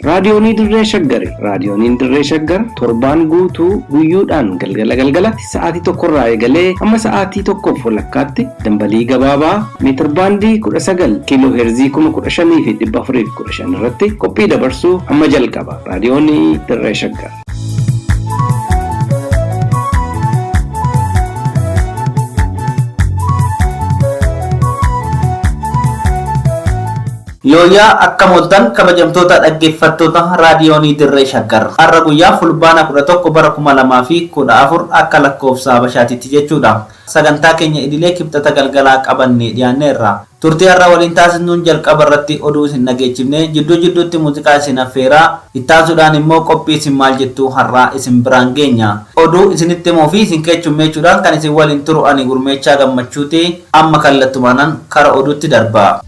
Raadiyoonii Dirree Shaggari Raadiyooniin Dirree Shaggar torbaan guutuu guyyuudhaan galgala galgalatti sa'aatii tokkorraa eegalee hamma sa'aatii tokkoof walakkaatti dambalii gabaabaa meetirbaandii 19 kiiloo heerzii 15415 irratti qophii dabarsuu amma jalqaba. Raadiyoonii Dirree Shaggar. Yooyyaa akkam ooltan kabajamtoota dhaggeeffattoota raadiyoonii dirree shaggar har'a guyyaa fulbaana 11 bara 2014 akka lakkoofsa habashaatitti jechuudha Sagantaa keenya idilee Kibxata galgalaa qabannee dhiyaanneerra. Turtii har'a waliin taasisnuun jalqaba irratti oduu isin dhageechifnee, jidduu jidduutti muuziqaa isin affeeraa, ittaansuudhaan immoo qophii isin maal jettuu har'aa isin biraan geenya. Oduu isinitti himuu fi isin keechummeechuudhaan kan isin waliin turu ani Gurmeechaa Gammachuuti. Amma kallattumaanan kara oduutti darba.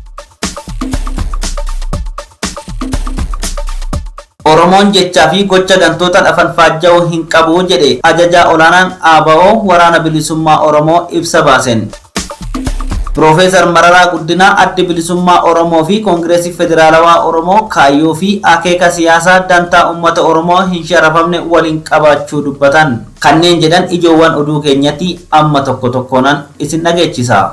Oromoon jechaa fi gocha gantootan afanfaajja'uu hin qabu jedhe Ajajaa Olaanaan ABO Waraana Bilisummaa Oromoo ibsa baasen. Piroofeesar Mararaa Guddinaa Addi Bilisummaa Oromoo fi Kongiresi Federaalawaa Oromoo kaayyoo fi akeeka siyaasaa dantaa ummata Oromoo hin sharafamne waliin qabaachuu dubbatan. Kanneen jedhan ijoowwan oduu keenyati amma tokko tokkoonan isin dhageechisa.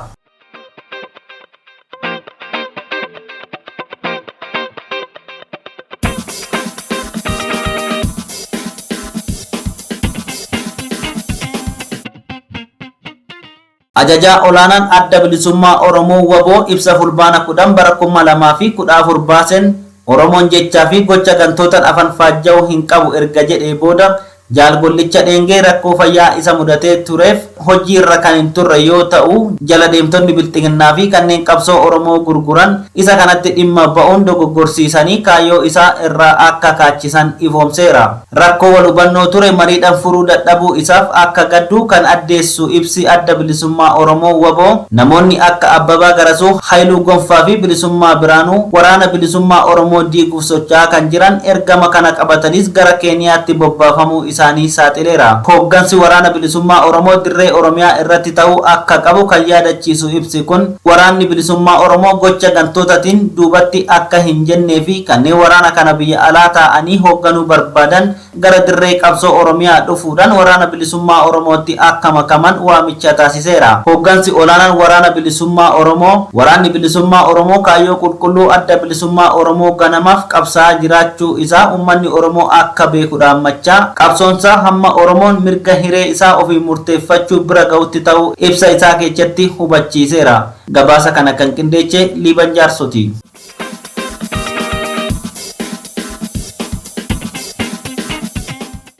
Ajajaa olaanaan adda bilisummaa Oromoo waboo ibsa fulbaana kudhan bara kuma lamaa fi kudha afur baaseen Oromoon jechaa fi gocha gantootan afan faajja'u hin qabu erga jedhee booda Jaal Gollicha Dheengee rakkoo fayyaa isa mudatee tureef hojii irra kan hin turre yoo ta'u, jala deemtonni Bilxiginnaa fi kanneen qabsoo Oromoo gurguran isa kanatti dhimma ba'uun dogoggorsiisanii kaayyoo isaa irraa akka kaachisan ifoomseera. Rakkoo wal hubannoo ture mariidhan furuu dadhabuu isaaf akka gaddu kan addeessu ibsi Adda Bilisummaa Oromoo, wbo, namoonni akka Abbabaa Garasuu, Hayiluu Gonfaa fi Bilisummaa Biraanuu waraana bilisummaa Oromoo diiguuf socho'aa kan jiran ergama kana qabataniis gara Keeniyaatti bobbaafamuu isaanii saaxileera. Hooggansi Waraana Bilisummaa Oromoo dirree Oromiyaa irratti ta'uu akka qabu kan yaadachiisu ibsi kun, Waraanni Bilisummaa Oromoo gocha gantootatiin duubatti akka hin jenneefi kanneen waraana kana biyya alaa taa'anii hoogganuu barbaadan gara dirree qabsoo Oromiyaa dhufuudhaan Waraana Bilisummaa Oromootti akka makaman waamicha taasiseera. Hooggansi olaanaan Waraana Bilisummaa Oromoo, Waraanni Bilisummaa Oromoo kaayyoo qulqulluu Adda Bilisummaa Oromoo ganamaaf qabsaa'aa jiraachuu isaa ummanni Oromoo akka beeku dhaammachaa, qabsoonsaa hamma Oromoon mirga hiree isaa ofiin murteeffachuu bira ga'utti ta'uu ibsa isaa keechatti hubachiiseera. Gabaasa kana kan qindeeche Liiban Jaarsooti.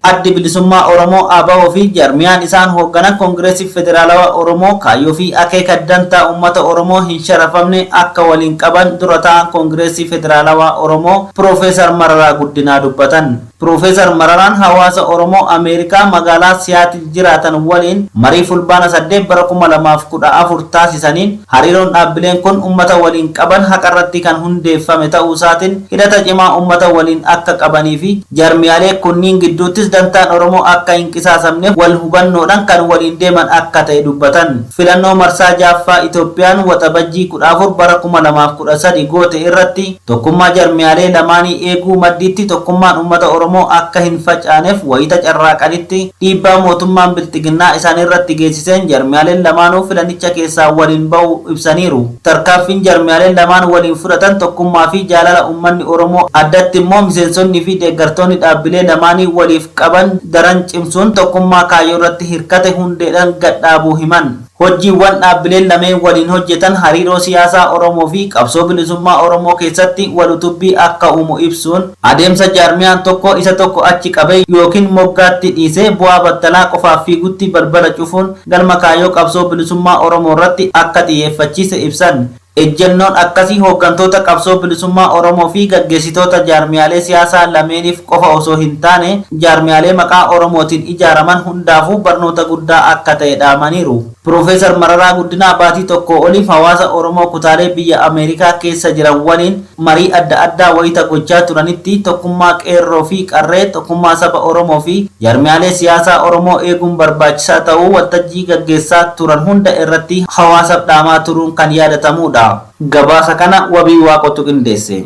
Addi Bilisummaa Oromoo ABO fi jarmiyaan isaan hoogganan Koongireesii Federaalawaa Oromoo kaayyoo fi akeeka dantaa uummata Oromoo hin sharafamne akka waliin qaban dura taa'aan Koongireesii Federaalawaa Oromoo Piroofeesar Mararaa Guddinaa dubbatan. Pirofeesar Mararaan hawaasa Oromoo Ameerikaa magaalaa Siyaatil jiraatan waliin marii Fulbaana 8 bara 2014 taasisaniin hariiroon dhaabbileen kun ummata waliin qaban haqarratti kan hundeeffame ta'uusaatin hidhata cimaa ummata waliin akka qabaniifi jaarmiyaalee kunniin gidduuttis dantaan Oromoo akka hin qisaasamne wal hubannoodhan kan waliin deeman akka ta'e dubbatan. Filannoo marsaa 6ffaa Itoophiyaan Waxabajjii 14 bara 2013 goote irratti Tokkummaa jarmiyaalee lamaanii eeguu maddiitti tokkummaan uummata Oromoo akka hin facaaneef wayita carraaqanitti dhiibbaa mootummaan Bilxiginnaa isaanirratti geessiseen jarmiyaaleen lamaanuu filanicha keessaa waliin ba'uu ibsaniiru. Tarkaanfiin jarmiyaaleen lamaan waliin fudhatan tokkummaa fi jaalala uummanni Oromoo addatti immoo miseensonni fi deeggartoonni dhaabbilee lamaanii waliif qaban daran cimsuun tokkummaa kaayyoorratti hirkate hundeedhaan gad dhaabuu himan. Hojjiiwwan dhaabbileen lameen waliin hojjetan hariiroo siyaasaa Oromoo fi qabsoo bilisummaa Oromoo keessatti wal utubbii akka uumu ibsuun, adeemsa jaarmiyaan tokko isa tokko achi qabee ykn moggaatti dhiisee bu'aa battalaa qofaaf fiigutti balbala cufuun galma kaayyoo qabsoo bilisummaa Oromoo irratti akka xiyyeeffachiise ibsan. Ejjennoon akkasii hooggantoota qabsoo bilisummaa Oromoo fi gaggeessitoota jaarmiyaalee siyaasaa lameeniif qofa osoo hin taane jaarmiyaalee maqaa Oromootiin ijaaraman hundaafuu barnoota guddaa akka ta'e dhaamaniiru. Piroofeesar Mararaa Guddinaa baatii tokkoo oliif hawaasa Oromoo kutaalee biyya Ameerikaa keessa jiran waliin Marii adda addaa wayita gochaa turanitti tokkummaa Qeerroo fi Qarree, tokkummaa saba Oromoo fi jaarmiyaalee siyaasaa Oromoo eeguun barbaachisaa ta'uu waltajjii gaggeessaa turan hunda irratti hawaasaf dhaamaa turuun kan yaadatamuudha. Gabaasa kana Wabii Waaqotu qindeesse.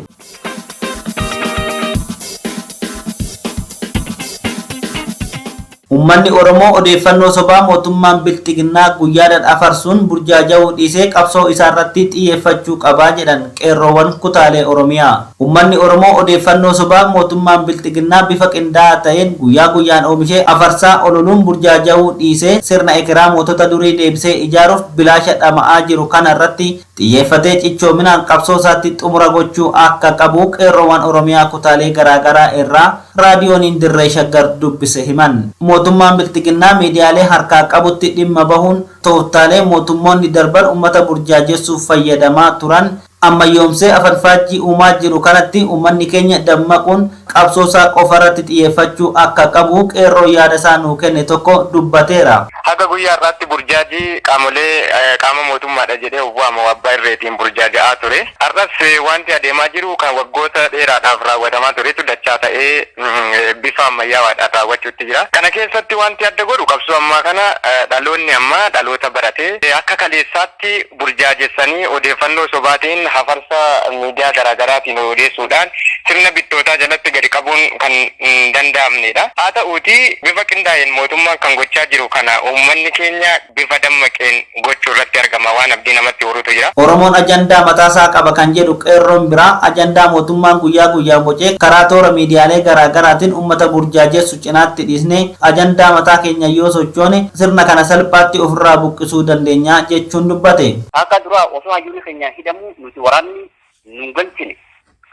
Ummanni Oromoo odeeffannoo sobaa mootummaan Bilxiginnaa guyyaadhaan afarsuun burjaaja'uu dhiisee qabsoo isaarratti xiyyeeffachuu qaba jedhan Qeerroowwan kutaalee Oromiyaa. Ummanni Oromoo odeeffannoo sobaa mootummaan Bilxiginnaa bifa qindaa'aa ta'een guyyaa guyyaan oomishee afarsaa ololuun burjaaja'uu dhiisee sirna ekeraa mootota durii deebisee ijaaruuf bilaasha dhama'aa jiru kana irratti xiyyeeffatee cichoominaan qabsoosaatti xumura gochuu akka qabu Qeerroowwan Oromiyaa kutaalee garaagaraa irraa Raadiyooniin Dirree Shaggar dubbise himan. Mootummaan Bilxiginnaa miidiyaalee harkaa qabutti dhimma bahuun tooftaalee mootummoonni darban ummata burjaajessuuf fayyadamaa turan ammayyoomsee afanfaajjii uumaa jiru kanatti ummanni keenya dammaquun qabsoosaa qofarratti xiyyeeffachuu akka qabu qeerroo yaadasaa nuu kenne tokko dubbateera. Haga guyyaa har'aatti burjaajii qaamolee qaama mootummaadha jedhee of waamu abbaa irreetiin burjaaja'aa ture. Har'as waanti adeemaa jiru kan waggoota dheeraadhaaf raawwatamaa turetu dachaa ta'ee bifa ammayyaawaadhaan raawwachuutti jira. Kana keessatti waanti adda godhu qabsoo ammaa kana dhaloonni ammaa dhaloota barate akka kaleessaatti burjaajessanii odeeffannoo sobaatiin hafarsa miidiyaa garaa garaatiin odeessuudhaan sirna bittootaa jalatti gadi qabuun kan hin danda'amneedha. Haa ta'uutii bifa qindaa'een mootummaan kan gochaa jiru kana uummanni keenya bifa dammaqeen gochuu irratti argama. Waan abdii namatti horutu jira. Oromoon ajandaa mataasaa qaba kan jedhu Qeerroon biraa, ajandaa mootummaan guyyaa guyyaan bocee karaa toora miidiyaalee garaa garaatiin uummata burjaajessu cinaatti dhiisnee ajandaa mataa keenyaan yoo sochoone sirna kana salphaatti ofirraa buqqisuu dandeenya jechuun dubbate. Akka duraa osoo hayyuun keenya hidhamuu nuti waraanni nun galchine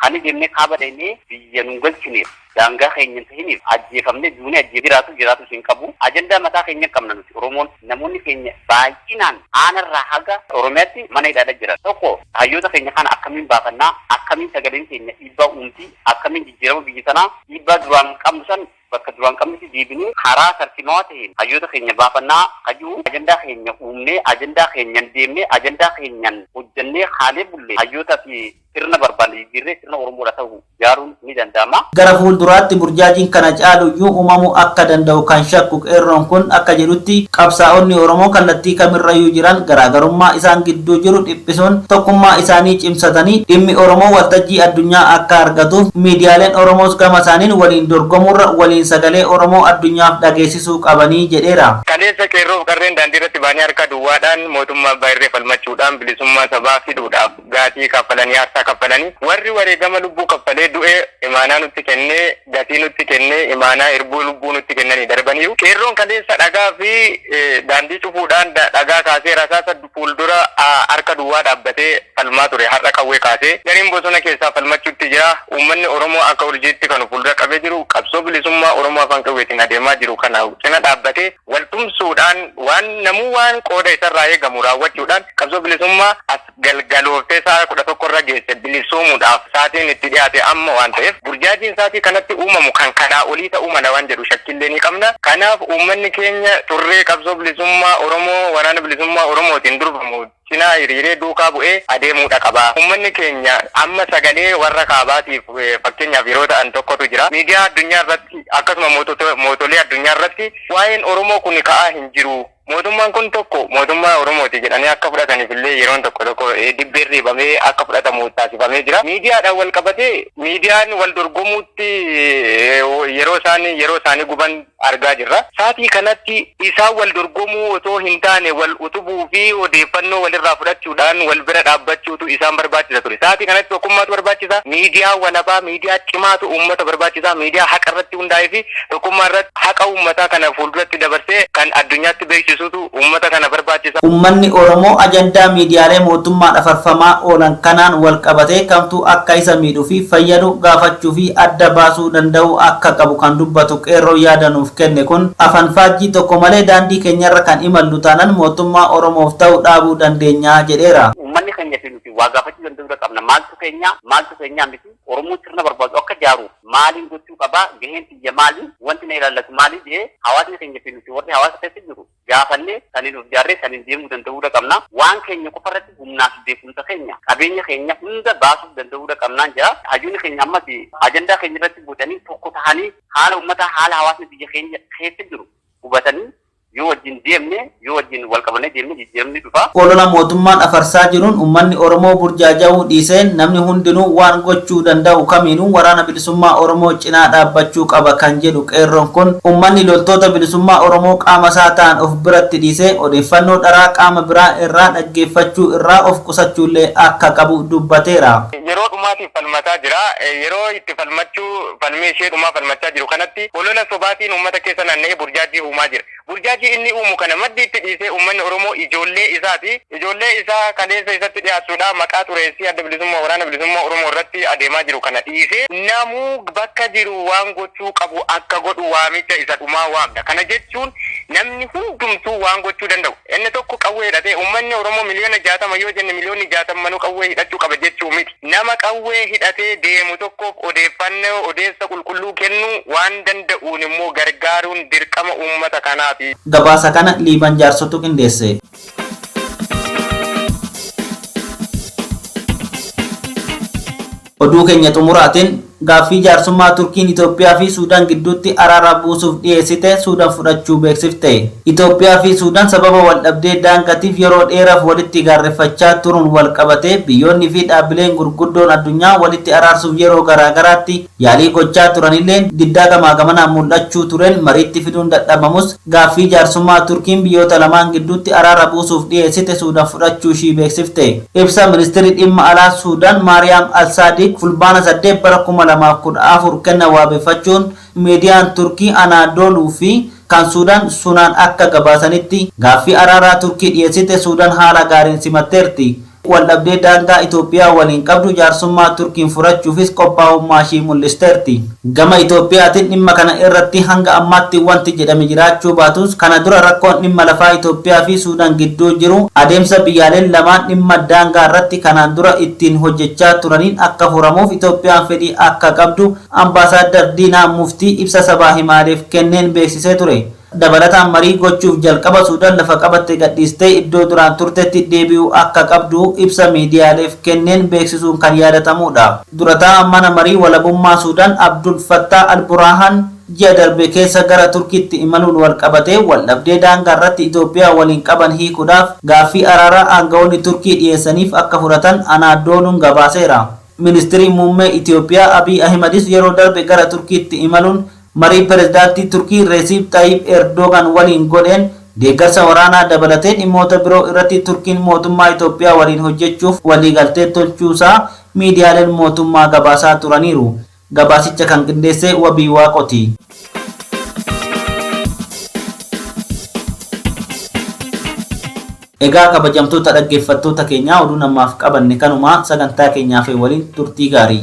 Kan deemnee kaaba dhaynee biyya nun galchineef daangaa keenya hin tahiniif ajjeefamnee duunee ajjee jiraatu jiraatuus hin qabu ajandaa mataa keenya qabna nuti oromoon namoonni keenya baay'inaan aanarraa haga oromiyaatti mana hidhaadha jiran tokko hayyoota keenya kana akkamiin baafannaa akkamiin sagaleen keenya dhiibbaa uumti akkamiin jijjiirama biyya tanaa dhiibbaa duraan qabnu san bakka duraan qabnetti deebinee karaa tarsiimawaa taheen hayyoota keenya baafannaa ka jiru ajandaa keenya uumnee ajandaa keenyan deemnee ajandaa keenyan hojjannee kaalee bulle hayyoota fi sirna barbaanne jijjiirree sirna Oromoodha tahu ijaaruun ni danda'ama. Gara fuulduraatti burjaajiin kana caalu iyyuu uumamuu akka danda'u kan shakku Qeerroon kun akka jedhutti qabsaa'onni Oromoo kallattii kamirrayyuu jiran garaagarummaa isaan gidduu jiru dhiphisuun tokkummaa isaanii cimsatanii dhimmi Oromoo waltajjii addunyaa akka argatuuf miidiyaaleen Oromoos gama isaaniin waliin dorgomuurra waliin sagalee Oromoo addunyaaf dhageessisuu qabanii jedheera. Kaleessa Qeerroof Qarreen daandiirratti ba'anii harka duwwaadhaan mootummaa abbaa irree falmachuudhaan bilisummaa sabaa fidhuudhaaf gaatii kaffalanii, aarsaa kaffalanii, warri wareegama lubbuu kaffalee du'e imaanaa nutti kennee, gatii nutti kennee imaanaa irbuu lubbuu nutti kennanii darbaniiru. Qeerroon kaleessa dhagaa fi daandii cufuudhaan dhagaa kaasee rasaasa fuuldura harka duwwaa dhaabbatee falmaa ture har'a qawwee kaasee gariin bosona keessaa falmachuutti jira. Uummanni Oromoo akka urjiitti kan of fuuldura qabee jiru qabsoo bilisummaa Oromoo afaan qawweetiin adeemaa jiru kana cina dhaabbatee wal tumsuudhaan waan namuu waan qooda isarraa eegamu raawwachuudhaan qabsoo bilisummaa as galgalooftee sa'aa 11 irra geesse bilisoomuudhaaf saatiin itti dhiyaate amma waan ta'eef burjaajiin saatii kanatti uumamu kan kanaa olii ta'uu mala waan jedhu shakkiillee ni qabna. Kanaaf uummanni keenya turree qabsoo bilisummaa Oromoo waraana bilisummaa Oromootiin durfamu cinaa hiriiree duukaa bu'ee adeemuudha qaba. Uummanni keenya amma sagalee warra kaabaatiif fakkeenyaaf yeroo ta'an tokkotu jira. Miidiyaa addunyaa irratti akkasuma mootolee addunyaa irratti waa'een Oromoo kun ka'aa hin jiru. Mootummaan kun tokko mootummaa Oromooti jedhanii akka fudhataniif illee yeroon tokko tokko dibbeen riibamee akka fudhatamu taasifamee jira. Miidiyaadhaan wal qabatee miidiyaan wal dorgomuutti yeroo isaan yeroo isaanii guban argaa jirra. Saatii kanatti isaan wal dorgomuu otoo hin taane wal utubuu fi odeeffannoo walirraa fudhachuudhaan wal bira dhaabbachuutu isaan barbaachisa ture. Saatii kanatti tokkummaatu barbaachisa. Miidiyaa walabaa, miidiyaa cimaatu uummata barbaachisa. Miidiyaa haqa irratti irratti hundaa'ee fi tokkummaa irratti haqa uummataa kana fuulduratti dabarsee kan addunyaatti beeksisuutu uummata kana barbaachisa. Uummanni Oromoo ajandaa miidiyaalee mootummaan afarfamaa oolan kanaan wal qabatee kamtu akka isa miidhu fi fayyadu gaafachuu fi adda baasuu danda'uu akka qabu kan dubbatu Qeerroon yaada nuuf kenne kun, afanfaajjii tokko malee daandii keenyarra kan imallu taanan mootummaa Oromoof ta'u dhaabuu dandeenya jedheera. Uummanni keenya fi nuti waa gaafachuu danda'uu irra qabna. Maaltu keenyaa? Maaltu keenyaa miti? Oromoon sirna barbaadu akka jaaruuf maaliin gochuu qaba, gaheen tiyya maali, wanti na ilaallatu maali jedhee hawaasni keenya fi nuti warri hawaasa keessa jirru gaafannee saniin of jaarree saniin deemuu danda'uudha qabna. Waan keenya qofa irratti humnaa fi beekumsa keenya, qabeenya keenya hunda baasuuf danda'uudha qabnaan jedha. Hayyoonni keenya ammas ajandaa keenya irratti bocanii tokko tahanii haala ummataa, haala hawaasni biyya keenya keessa jiru hubatanii Yoo wajjin deemne, yoo wajjin wal qabannee deemne jijjiiramni dhufa. Olola mootummaan afarsaa jiruun ummanni Oromoo burjaaja'uu dhiisee namni hundinuu waan gochuu danda'u kamiinuu Waraana Bilisummaa Oromoo cinaa dhaabbachuu qaba kan jedhu Qeerroon kun, ummanni loltoota bilisummaa Oromoo qaama isaa ta'an of biratti dhiisee odeeffannoo dharaa qaama biraa irraa dhaggeeffachuu irraa of qusachuullee akka qabu dubbateera. Yeroo dhumaatiif itti falmataa jira. Yeroo itti falmachuu falmii ishee dhumaa falmachaa jiru kanatti olola sobaatiin uummata keessa naanna'ee burjaajii uumaa jira. Burjaajii inni uumu kana maddi itti dhiisee uummanni Oromoo ijoollee isaati. Ijoollee isaa kaleessa isatti dhiyaattuudha. Maqaa xureessii Adda Bilisummaa Waraana Bilisummaa Oromoo irratti adeemaa jiru kana dhiisee namuu bakka jiru waan gochuu qabu akka godhu waamicha isa dhumaa waamna. Kana jechuun namni hundumtuu waan gochuu danda'u. Inni tokko qawwee hidhatee uummanni Oromoo miliyoona 60 yoo jenne miliyoonni 60 manuu qawwee hidhachuu qaba jechuu miti. Nama qawwee hidhatee deemu tokkoof odeeffannoo odeessa qulqulluu kennuu waan danda'uun immoo gargaaruun dirqama uummata kanaati. Gabaasa kana Liiban Jaarsotu qindeesse. Oduu keenya xumuraatiin Gaaffii jaarsummaa Turkiin Itoophiyaa fi Suudaan gidduutti araaraa buusuuf dhiyeessite Suudan fudhachuu beeksifte. Itoophiyaa fi Suudan sababa waldhabdee daangatiif yeroo dheeraf walitti gaarreffachaa turuun walqabatee biyyoonni fi dhaabbileen gurguddoon addunyaa walitti araarsuuf yeroo garaa garaatti yaalii gochaa turanilleen diddaa gamaa gamanaan mul'achuu tureen mariitti fiduun dadhabamus Gaaffii jaarsummaa Turkiin biyyoota lamaan gidduutti araara buusuuf dhiyeessite Suudan fudhachuu ishii beeksifte. Ibsa Ministirri Dhimma Alaa Suudan Maariyaam Al-Saadiiq Fulbaana 8 bara 2014 kennan waabeffachuun miidiyaan Turkii Anaadooluu fi kan Suudan Sunaan akka gabaasanitti, gaaffii araaraa Turkii dhiyeessite Suudan haala gaariin simatteerti. Waldhabdee daangaa Itoophiyaa waliin qabdu jaarsummaa Turkiin furachuufis qophaa'ummaashii mul'isteerti. Gama Itoophiyaatiin dhimma kana irratti hanga ammaatti wanti jedhame jiraachuu baatus, kana dura rakkoon dhimma lafaa Itoophiyaafi Suudaan gidduu jiru adeemsa biyyaaleen lamaan dhimma daangaa irratti kanaan dura ittiin hojjechaa turaniin akka furamuuf Itoophiyaan fedhii akka qabdu Ambaasaaddar Diinaa Muftii ibsa sabaa himaaleef kenneen beeksisee ture. Dabalataan marii gochuuf jalqaba Suudaan lafa qabatte gadhiistee iddoo duraan turtetti deebi'uu akka qabdu ibsa miidiyaaleef kenneen beeksisuun kan yaadatamuudha. Dura taa'aan Mana Marii Walabummaa Suudaan Abdul Fattaah al-Buraahaan ji'a darbe keessa gara Turkiitti imaluun walqabatee waldhabdee daangaarratti Itoophiyaa waliin qaban hiikuudhaaf gaaffii araaraa aanga'oonni Turkii dhiyeessaniif akka fudhatan Anaadooluun gabaaseera. Ministiriin Muummee Itoophiyaa Abiy Ahimadis yeroo darbe gara Turkiitti imaluun Marii Pirezidaantii Turkii Reesiip Xayiip Eerdoogaan waliin godheen deeggarsa waraanaa dabalatee dhimmoota biroo irratti Turkiin mootummaa Itoophiyaa waliin hojjechuuf waliigaltee tolchuusaa miidiyaaleen mootummaa gabaasaa turaniiru. Gabaasicha kan qindeesse Wabii Waaqoti. Egaa kabajamtoota dhaggeeffattoota keenyaa oduun ammaaf qabanne kanuma sagantaa keenya hafe waliin turtii gaarii.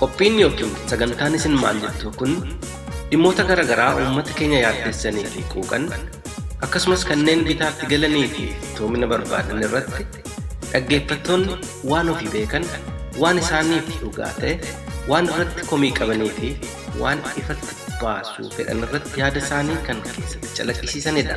Qophiin ykn sagantaan isin maal jettuu kun dhimmoota gara garaa uummata keenya yaaddessanii fi quuqan akkasumas kanneen bitaatti galanii fi iftoomina barbaadan irratti dhaggeeffattoonni waan ofii beekan waan isaaniif dhugaa ta'e waan irratti komii qabanii fi waan ifatti baasuu fedhan irratti yaada isaanii kan keessatti calaqqisiisanidha.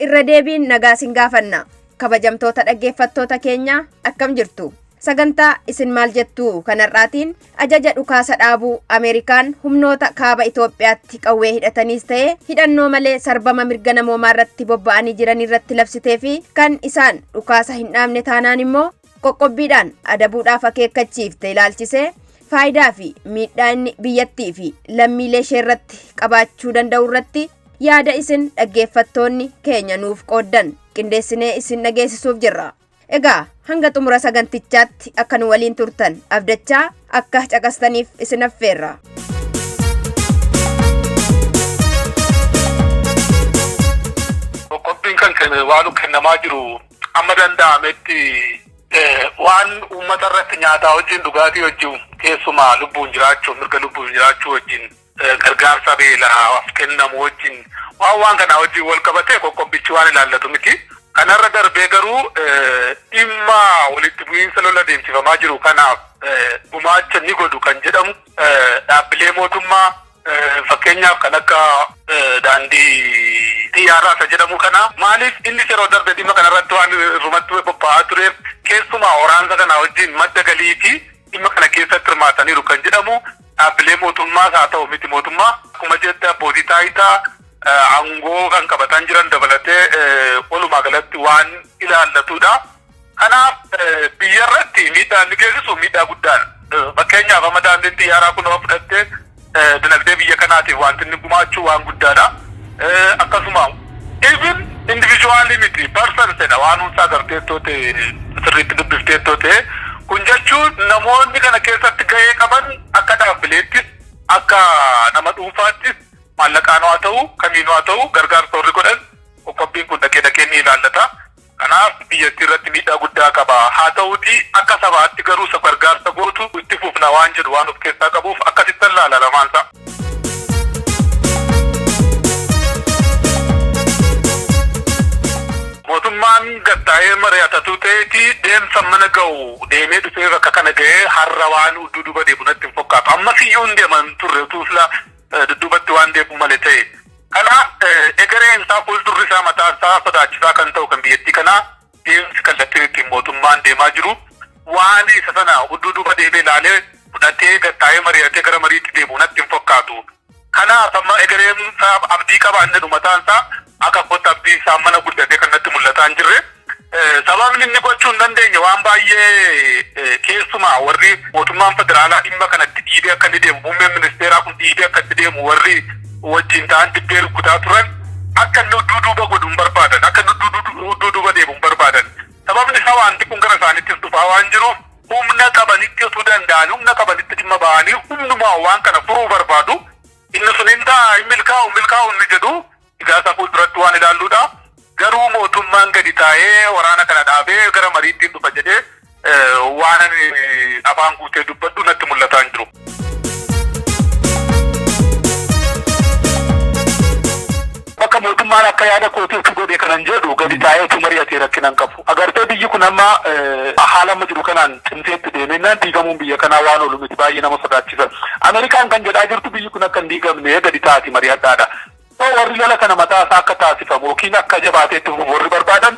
Irra deebiin nagaa isin gaafanna. Kabajamtoota dhaggeeffattoota keenyaa akkam jirtu? Sagantaa isin maal jettu kanarraatiin ajaja dhukaasa dhaabuu Ameerikaan humnoota kaaba Itoophiyaatti qawwee hidhataniis ta'ee hidhannoo malee sarbama mirga namoomaa irratti bobba'anii jiran irratti labsitee fi kan isaan dhukaasa hin dhaabne taanaan immoo qoqqobbiidhaan adabuudhaaf akeekkachiifte ilaalchisee faayidaa fi miidhaa inni biyyattii fi lammiilee ishee irratti qabaachuu danda'u irratti Yaada isin dhaggeeffattoonni keenya nuuf qooddan qindeessinee isin dhageessisuuf jirra. Egaa hanga xumura sagantichaatti akka nu waliin turtan abdachaa akka caqastaniif isin affeerra. Qophiin kan kenne waan kennamaa jiru amma danda'ametti waan uummata irratti nyaataa wajjin dhugaatii wajjin keessumaa lubbuun jiraachuu mirga lubbuun jiraachuu wajjin gargaarsa beelaaf kennamu wajjin waan waan kanaa wajjin wal qabatee qoqqobbichi waan ilaallatu miti. Kanarra darbee garuu dhimma walitti bu'iinsa lola adeemsifamaa jiru kanaaf gumaacha ni godhu kan jedhamu dhaabbilee mootummaa fakkeenyaaf kan akka daandii xiyyaaraa isa jedhamu kana maaliif inni yeroo darbe dhimma kanarratti waan irrumatti qophaa'aa tureef keessumaa waraansa kanaa wajjin madda galii fi dhimma kana keessatti hirmaataniiru kan jedhamu Dhaabbilee mootummaas haa ta'u miti mootummaa akkuma jette abbootii taayitaa aangoo kan qabataan jiran dabalatee walumaa galatti waan ilaallatudha. Kanaaf biyya irratti miidhaa inni geessisu miidhaa guddaadha. Fakkeenyaaf amma daandiin xiyyaaraa kun yoo fudhatte dinagdee biyya kanaatiif wanti inni gumaachu waan guddaadha. Akkasuma Even individually miti persons dha waan hunda agarteettoo ta'e sirriitti dubbifteettoo ta'e kun jechuun namoonni kana keessatti gahee qaban akka dhaabbileettis akka nama dhuunfaattis maallaqaan haa ta'u kamiinuu haa ta'u gargaarsa warri godhan qoqqobbiin kun dhaqee dhaqee ni ilaallata. Kanaaf biyyattii irratti miidhaa guddaa qaba. Haa ta'uutii akka sabaatti garuu isa gargaarsa gootu itti fufna waan jedhu waan of keessaa qabuuf akkasittan laala lamaan isaa. Mootummaan gad taa'ee mari'atatu ta'eeti deemsa mana ga'u deemee dhufee bakka kana ga'ee har'a waan udduu duuba deemu natti hin fakkaatu. Ammas iyyuu hin deeman turre utuu silaa dudduubatti waan deebi'u male ta'e. Kanaaf egereen isaa fuuldurri isaa mataan isaa sodaachisaa kan ta'u kan biyyattii kanaa deemsi kallattiin ittiin mootummaan deemaa jiru waan isa sana udduu duuba deebee ilaalee fudhatee gattaa'ee mari'atee gara mariitti deebi'u natti hin fakkaatu. Kanaaf amma egereen isaa abdii qaba inni mataan isaa Akka kootti abdii isaa mana guddatee kan natti mul'ataa hin jirre. Sababni inni gochuu hin dandeenye waan baay'ee keessumaa warri mootummaan federaalaa dhimma kana itti dhiibee akka inni deemu muummeen ministeeraa kun dhiibee akka itti deemu warri wajjin ta'an dibbee rukkutaa turan akka inni udduu duuba godhu hin barbaadan akka inni udduu duuba deemu hin barbaadan sababni isaa waanti kun gara isaanittis dhufaa waan jiruuf humna qabanitti utuu danda'an humna qabanitti dhimma ba'anii humnumaa waan kana furuu barbaadu inni sun hin ta'a hin milkaa'u milkaa'u inni jedhu Ijaarsa fuulduratti waan ilaalluudha. Garuu mootummaan gadi taa'ee waraana kana dhaabee gara mariittiin dhufa jedhee waan afaan guutee dubbadhu natti mul'ataa hin jiru. Bakka mootummaan akka yaada kootiitti godhe kanan jedhu gadi taa'eetu mari'atee rakkinan qabu. Agartee biyyi kun amma haala amma jiru kanaan cimseetti deemennaan diigamuun biyya kanaa waan oolu miti baay'ee nama sodaachisa. Ameerikaan kan jedhaa jirtu biyyi kun akka hin diigamne gadi taa'aati mari'adhaadha. So warri lola kana mataa isaa akka taasifamu yookiin akka jabaatee itti fufu warri barbaadan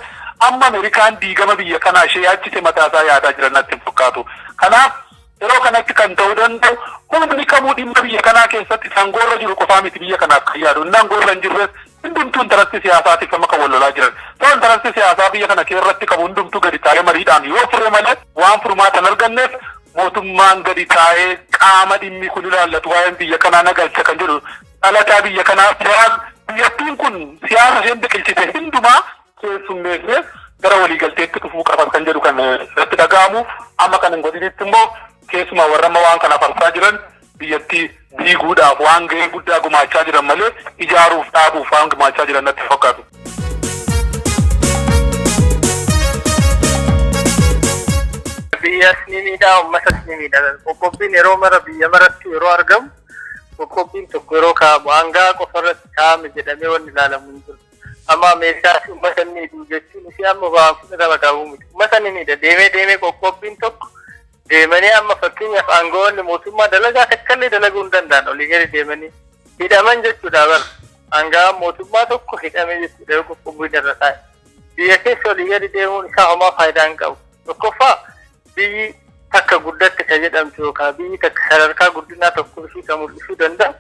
amma Amerikaan diigama biyya kanaa ishee yaachise mataa isaa yaadaa jiran natti hin fakkaatu. Kanaaf yeroo kanatti kan ta'uu danda'u humni kamuu dhimma biyya kanaa keessatti isa aangoo irra jiru qofaa miti biyya kanaaf kan yaadu. Inni aangoo irra hin jirres hundumtuu intarastii siyaasaatiif amma kan wal lolaa jiran. So intarastii siyaasaa biyya kana keessatti qabu hundumtuu gadi taa'ee mariidhaan yoo fure malee waan furmaata hin arganneef mootummaan gadi taa'ee qaama dhimmi kun ilaallatu waa'een biyya kanaa nagalcha kan jedhu dhalataa biyya kanaa siyaas biyyattiin kun siyaasa isheen biqilchite hundumaa keessummeessee gara waliigalteetti dhufuu qaba kan jedhu kan irratti dhaga'amu amma kan hin godhinitti immoo keessumaa warra amma waan kana farsaa jiran biyyattii diiguudhaaf waan gahee guddaa gumaachaa jiran malee ijaaruuf dhaabuuf waan gumaachaa jiran natti fakkaatu. biyyas ni miidhaa uummatas ni miidha qoqqobbiin yeroo mara biyya maratti yeroo argamu Qoqqobbiin tokko yeroo kaa'amu aanga'aa qofa irratti kaa'ame jedhamee wanni ilaalamu hin jiru. Amma Ameerikaa fi uummata inni hidhuu jechuun isii amma waan fudhatama qabu miti. Uummata inni hidha deemee deemee qoqqobbiin tokko deemanii amma fakkeenyaaf aanga'oonni mootummaa dalagaa takkallee dalaguu hin danda'an olii gadi deemanii hidhaman jechuudha bara. Aanga'aan mootummaa tokko hidhame jechuudha yoo qoqqobbiin irra taa'e. Biyya keessa olii gadi deemuun isaa homaa faayidaa hin qabu. Tokkoffaa biyyi takka guddatte ka jedhamtu yookaan biyyi takka sadarkaa guddinaa tokko ishii ka mul'isuu danda'u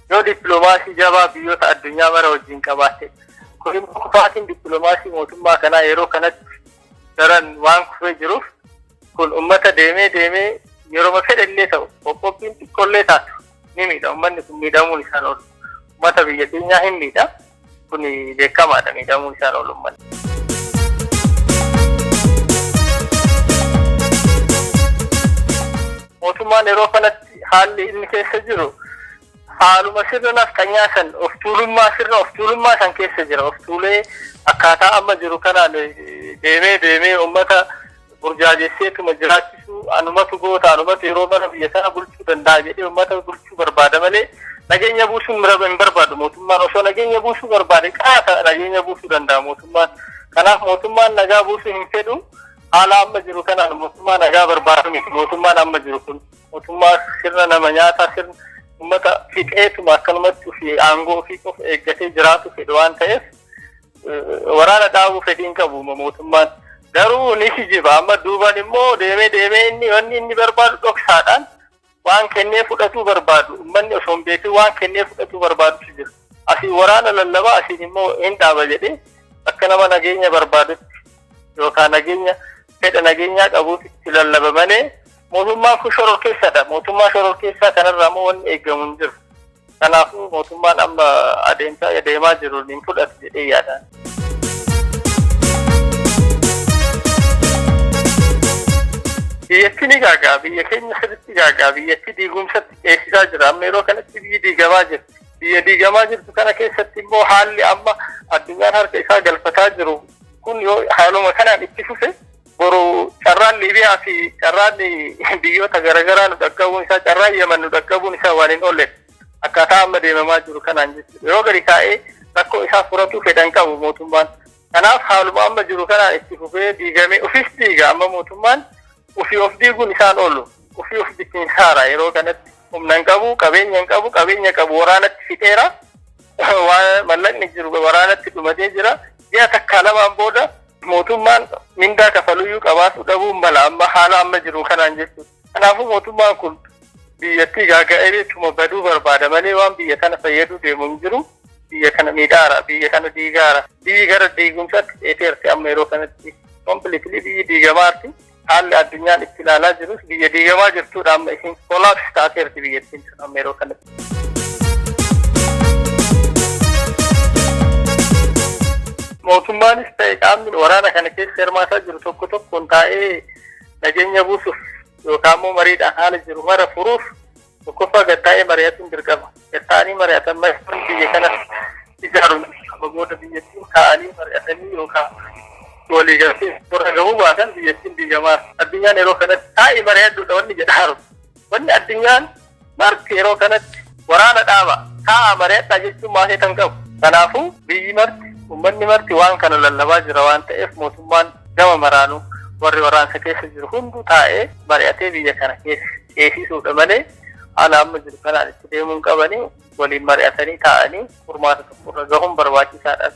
yoo dippiloomaasii jabaa biyyoota addunyaa mara wajjin qabaatte. Kun immoo kufaatiin dippiloomaasii mootummaa kanaa yeroo kanatti daran waan kufee jiruuf kun uummata deemee deemee yeroo fedhe illee ta'u qoqqobbiin xiqqollee taatu ni miidha. Uummanni kun miidhamuun isaan oolu. Uummata biyya keenyaa hin miidha. kun beekamaadha miidhamuu isaan oolumman. Mootummaan yeroo kanatti haalli inni keessa jiru haaluma sirna nafxanyaa san of tuulummaa sirna of tuulummaa san keessa jira of tuulee akkaataa amma jiru kanaan deemee deemee uummata burjaajesseetuma jiraachisuu anumatu goota anumatu yeroo mana biyya sana bulchuu danda'a jedhee uummata bulchuu barbaada malee nageenya buusuun mira- hin barbaadu mootummaan osoo nageenya buusuu barbaade qaata nageenya buusuu danda'a mootummaan kanaaf mootummaan nagaa buusuu hin fedhu haala amma jiru kanaan mootummaa nagaa barbaadu miti mootummaan amma jiru kun mootummaa sirna nama nyaataa sirna uummata fixeetuma akkanumatti fi aangoo fi qofa eeggatee jiraatu fedhu waan ta'eef Waraana dhaabuu fedhiin qabu mootummaan. Garuu ni kijiba amma duuban immoo deemee deemee inni wanni inni barbaadu dhoksaadhaan waan kennee fudhatuu barbaadu ummanni osoo hin beekin waan kennee fudhatuu barbaadutu jira. Asiin waraana lallabaa asiin immoo hin dhaaba jedhee akka nama nageenya barbaadutti yookaan nageenya fedha nageenyaa qabuutu itti lallaba malee mootummaan kun shororkeessadha. Mootummaa shororkeessaa kanarraa immoo wanni eegamu hin jiru. Kanaafuu mootummaan amma adeemsaa adeemaa jiru hin fudhatu jedhee yaada. Biyyattii ni gaagaa biyya keenya sirriitti gaagaa biyyattii diigumsatti ceesisaa jira amma yeroo kanatti biyyi diigamaa jirti. Biyya diigamaa jirtu kana keessatti immoo haalli amma addunyaan harka isaa galfataa jiru Kun yoo haaluma kanaan itti fufe boru carraan Liibiyaa fi carraan biyyoota garaagaraa nu dhaqqabuun isaa carraan Yaman nu dhaqqabuun isaa waan hin oolle akkaataa amma deemamaa jiru kanaan jechuudha. Yoo gadi taa'ee rakkoo isaa furatuu fedhan qabu mootummaan. Kanaaf haaluma amma jiru kanaan itti fufee diigamee ofis diiga amma mootummaan ofii of diiguun isaan oolu. Ofii of bittinsaara yeroo kanatti humna hin qabu, qabeenya hin qabu, qabeenya qabu waraanatti fixeera. Waan mallaqni jiru waraanatti dhumatee jira. Ji'a takkaa lamaan booda mootummaan mindaa kafaluyyuu qabaasuu dhabuun mala amma haala amma jiru kanaan jechuudha. Kanaafuu mootummaan kun biyyattii gaaga'eetuma baduu barbaada malee waan biyya kana fayyaduu deemu hin jiru. Biyya kana miidhaara, biyya kana diigaara. Biyyi gara diigumsaatti dheeteerti amma yeroo kanatti. Kompiliitilii biyyi diigamaarti. haalli addunyaan itti ilaalaa jirus biyya diigamaa jirtuudha amma isiin kolaapsi taateerti biyyattiin sun amma yeroo kanatti. Mootummaanis ta'e qaamni waraana kana keessa hirmaataa jiru tokko tokkoon taa'ee nageenya buusuuf yookaan immoo mariidhaan haala jiru mara furuuf Tokkoffaa gad taa'ee mari'achuun dirqama. Gad taa'anii mari'atan mari'atan biyya kana ijaaruun amma booda biyyattiin taa'anii mari'atanii yookaan walii galtee warra gahuu baatan biyyattiin diigamaa. Addunyaan yeroo kanatti taa'ii mari'adhuudha wanni jedhaaru. Wanni addunyaan marti yeroo kanatti waraana dhaaba taa'aa mari'adhaa jechuun maasee kan qabu. Kanaafuu biyyi marti ummanni marti waan kana lallabaa jira waan ta'eef mootummaan gama maraanuu warri waraansa keessa jiru hunduu taa'ee mari'atee biyya kana keessa ceesisuudha malee haala amma jiru kanaan itti deemuun qabanii waliin mari'atanii taa'anii furmaata tokkorra gahuun barbaachisaadha.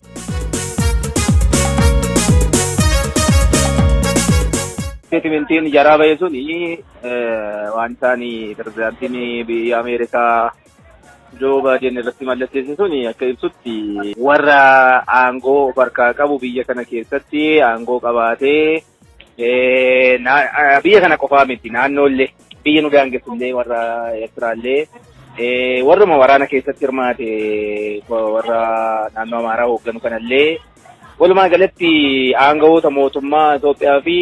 Isteetimentiin jaraa ba'e sun waan isaan pirezidaantiin biyya Ameerikaa Joo Baayiden irratti mallatteesse sun akka ibsutti warra aangoo of harkaa qabu biyya kana keessatti aangoo qabaatee biyya kana qofaa miti naannoollee biyya nu daangessullee warra Eertiraallee warruma waraana keessatti hirmaate warra naannoo Amaaraa hoogganu kanallee Walumaa galatti aangawoota mootummaa Itoophiyaa fi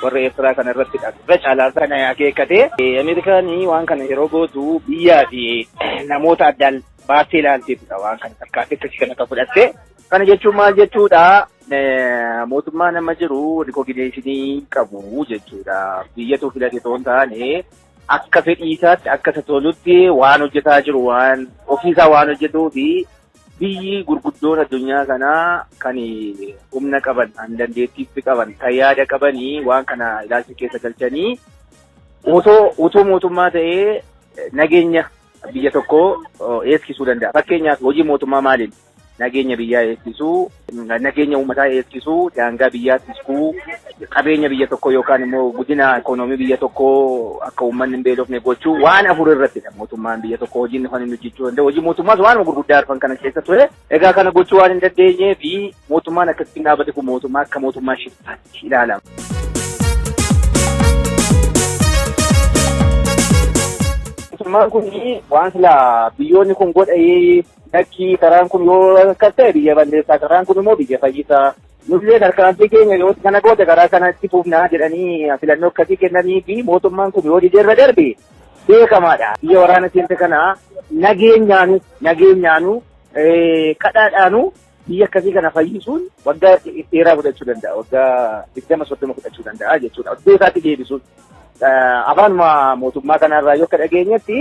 warra Eertiraa kana irratti irra caalaa kan akeekkate. Ameerikaan waan kana yeroo gootu biyyaa fi namoota addaan baattee ilaalteetudha waan kana tarkaanfii akkasii kana kan fudhatte. Kana jechuun maal jechuudha? Mootummaan amma jiru rikoogineeshinii qabu jechuudha. Biyyatu filate otoo hin taane akka fedhii isaatti akka isa tolutti waan hojjetaa jiru waan ofiisaa waan hojjetuu fi Biyyi gurguddoon addunyaa kanaa kan humna qaban, kan dandeettiitti qaban, kan yaada qabanii waan kana ilaalcha keessa galchanii otoo utuu mootummaa ta'ee nageenya biyya tokkoo eegsisuu danda'a. Fakkeenyaaf hojii mootummaa maaliin nageenya biyyaa eegsisuu, nageenya uummataa eegsisuu, daangaa biyyaa tiksuu, qabeenya biyya tokkoo yookaan immoo guddina ikoonoomii biyya tokkoo akka uummanni hin beelofne gochuu waan afur irrattidha mootummaan biyya tokko hojiin kan inni hojjechuu danda'u. Hojii mootummaas waanuma gurguddaa arfan kana keessa ture. Egaa kana gochuu waan hin dandeenyee fi mootummaan akkasitti dhaabate kun mootummaa akka mootummaa shiftaatti ilaalama. Mootummaan kun waan silaa biyyoonni kun godhayee Lakkii karaan kun yoo akkas ta'e biyya balleessaa karaan kun immoo biyya fayyisaa. Nullee tarkaanfii keenya yoo kana goote karaa kana itti fuufnaa jedhanii filannoo akkasii kennanii fi mootummaan kun yoo didee irra darbe beekamaadha. Biyya waraana seente kana nageenyaanu nageenyaanu kadhaadhaanu biyya akkasii kana fayyisuun waggaa dheeraa fudhachuu danda'a. Waggaa digdama soddoma fudhachuu danda'a jechuudha. Iddoo isaatti deebisuun afaanuma mootummaa kanarraa yoo akka dhageenyetti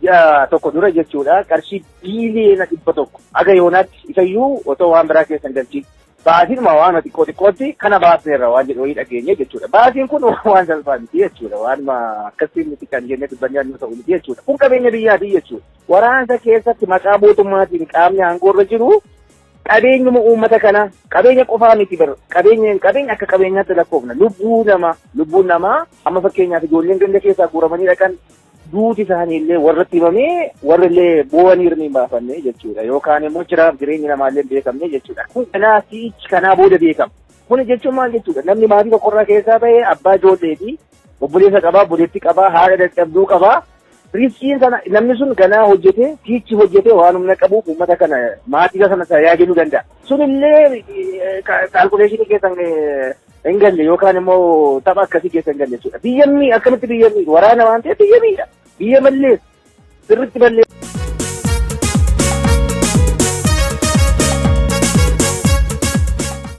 ji'a tokko dura jechuudha qarshii biiliyoona dhibba tokko aga yoonaatti isayyuu otoo waan biraa keessa hin galchiin baasiinuma waanuma xiqqoo xiqqootti kana baasneerra waan jedhu wayii dhageenye jechuudha. Baasiin kun waan salphaa miti jechuudha. Waanuma akkasii miti kan jennee dubbannee annuu ta'u miti jechuudha. Kun qabeenya biyyaati jechuudha. Waraansa keessatti maqaa mootummaatiin qaamni aangoorra jiru qabeenyuma uummata kanaa qabeenya qofaa miti bara qabeenya qabeenya akka qabeenyaatti lakkoofna lubbuu namaa lubbuun namaa Amma fakkeenyaaf ijoolleen ganda keessaa guuramanii dhaqan duuti isaanii illee warratti himamee warri illee boo'anii hirni hin baafanne jechuudha. Yookaan immoo jiraaf jireenyi namaa illee hin beekamne jechuudha. Kun kanaa si'ichi kanaa booda beekama. Kuni jechuun maal jechuudha? Namni maatii tokkorraa keessaa ba'e abbaa ijoolleeti. Obboleessa qabaa, obboleettii qabaa, haadha dadhabduu qabaa. Riskiin sana namni sun ganaa hojjetee, si'ichi hojjetee waan humna qabuuf uummata kana maatii sana tajaajiluu danda'a. Sunillee kaalkuleeshinii keessan hin galle yookaan immoo tapha akkasii keessa hin galle jechuudha. Biyya mii akkamitti biyya mii waraana waan ta'eef biyya miidha. Biyya balleessa. Sirriitti balleessa.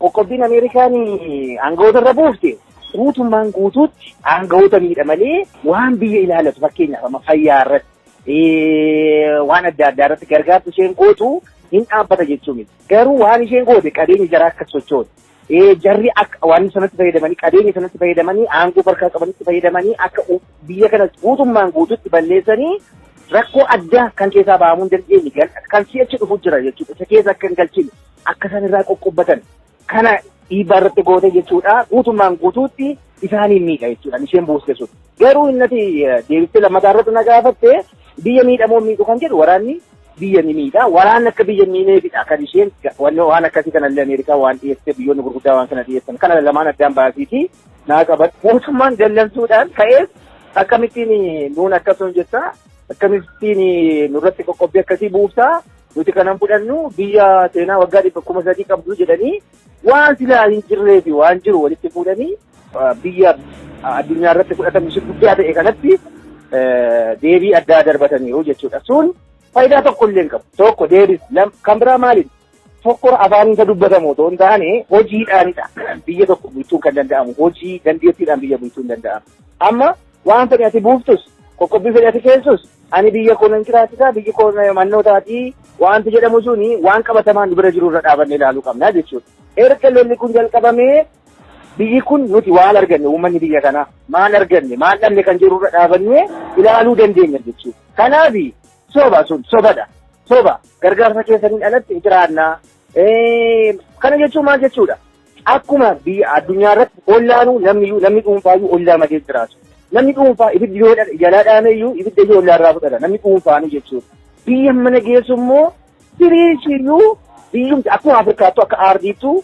Qoqqobbiin Ameerikaan aangawoota irra buufte guutummaan guutuutti aangawoota miidha malee waan biyya ilaalatu fakkeenyaaf amma fayyaa irratti waan adda addaa irratti gargaartu isheen gootu hin dhaabbata jechuu miti. Garuu waan isheen goote qabeenya jaraa akka sochootu Ee jarri akka waan sanatti fayyadamanii qabeenya sanatti fayyadamanii aangoo barkaa qabanitti fayyadamanii akka u- biyya kana guutummaan guututti balleessanii rakkoo addaa kan keessaa bahamuu hin dandeenye gal- kan si'achi dhufu jira jechuudha. Isa keessa akka hin galchine akka isaan irraa qoqqobbatan kana dhiibbaa irratti goote jechuudha. Guutummaan guutuutti isaaniin miidha jechuudha. Isheen buuste sun. Garuu innati eh, deebistee lammataa irratti na gaafatte biyya miidhamoo miidhu kan jedhu waraanni biyya ni miidha. Waraanni akka biyya hin miineefidha kan isheen wanni waan akkasii kanallee Ameerikaa waan dhiyeessee biyyoonni gurguddaa waan kana dhiyeessan kana lamaan addaan baasiitii naa qaban mootummaan dallansuudhaan ka'ees akkamittiin nuun akkasuma jettaa akkamittiin nurratti qoqqobbii akkasii buuftaa nuti kanan fudhannu biyya seenaa waggaa dhibba kuma sadii qabdu jedhanii Waan silaa hin jirree fi waan jiru walitti fuudhanii biyya addunyaa irratti fudhatamni ishee guddaa ta'e kanatti deebii addaa darbataniiru jechuudha. Sun faayidaa tokko illee hin qabu. Tokko deebis kan biraa maaliidha? Tokko afaan isa dubbatamu otoo hin taane hojiidhaanidha. Biyya tokko bulchuun kan danda'amu hojii dandeettiidhaan biyya bulchuun danda'amu. Amma waan fedhe ati buuftus qoqqobbii fedhe ati keessus ani biyya koo nan jiraachisa biyyi koo mannoo taatii wanti jedhamu suni waan qabatamaan nu bira jiru irra dhaabannee ilaaluu qabna jechuudha. Erga lolli kun jalqabamee biyyi kun nuti waan arganne uummanni biyya kanaa maal arganne maal dhabne kan jiru irra dhaabannee ilaaluu dandeenya jechuudha. Kanaaf soba sun sobadha. Soba gargaarsa keessaniin alatti jiraannaa. Kana jechuun maal jechuudha? Akkuma biyya addunyaa irratti ollaanuu namni iyyuu namni dhuunfaa iyyuu ollaa malee jiraatu. Namni dhuunfaa ibiddi yoo jalaa dhaame iyyuu ibidda iyyuu ollaa irraa fudhata namni dhuunfaanuu jechuudha. Biyya mana geessu immoo biriichi iyyuu biyyumti akkuma Afrikaattuu akka aardiittuu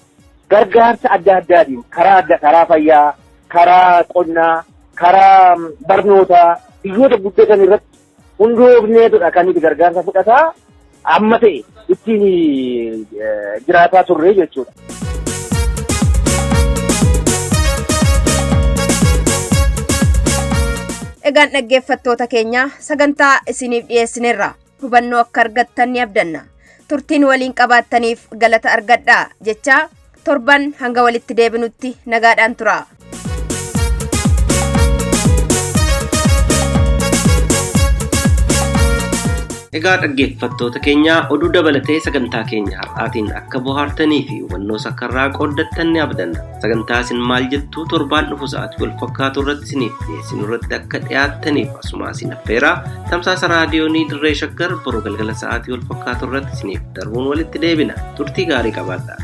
gargaarsa adda addaatiin karaa adda karaa fayyaa, karaa qonnaa, karaa barnootaa biyyoota guddatan irratti Hunduu obneetudha kan nuti gargaarsa fudhataa amma ta'e ittiin jiraataa turre jechuudha. Egaan dhaggeeffattoota keenya sagantaa isiniif dhiyeessinerra hubannoo akka argattan ni abdanna. Turtiin waliin qabaattaniif galata argadhaa jechaa torban hanga walitti deebinutti nagaadhaan tura. Egaa dhaggeeffattoota keenya oduu dabalatee sagantaa keenya har'aatiin akka bohaartanii fi hubannoo sakarraa qooddattan ni abdanna. Sagantaa isin maal jettuu torbaan dhufu sa'aatii wal fakkaatu irratti isiniif dhiyeessinu irratti akka dhiyaattaniif asuma isin affeeraa tamsaasa raadiyoonii dirree shaggar boru galgala sa'aatii wal fakkaatu irratti isiniif darbuun walitti deebina. Turtii gaarii qabaadhaa.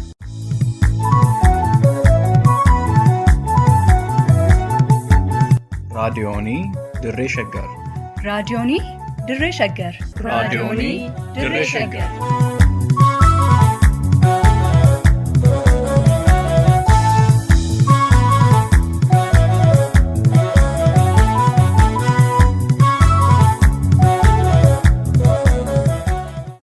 raadiyoonii dirree shaggar raadiyoonii dirree shaggar raadiyoonii dirree shaggar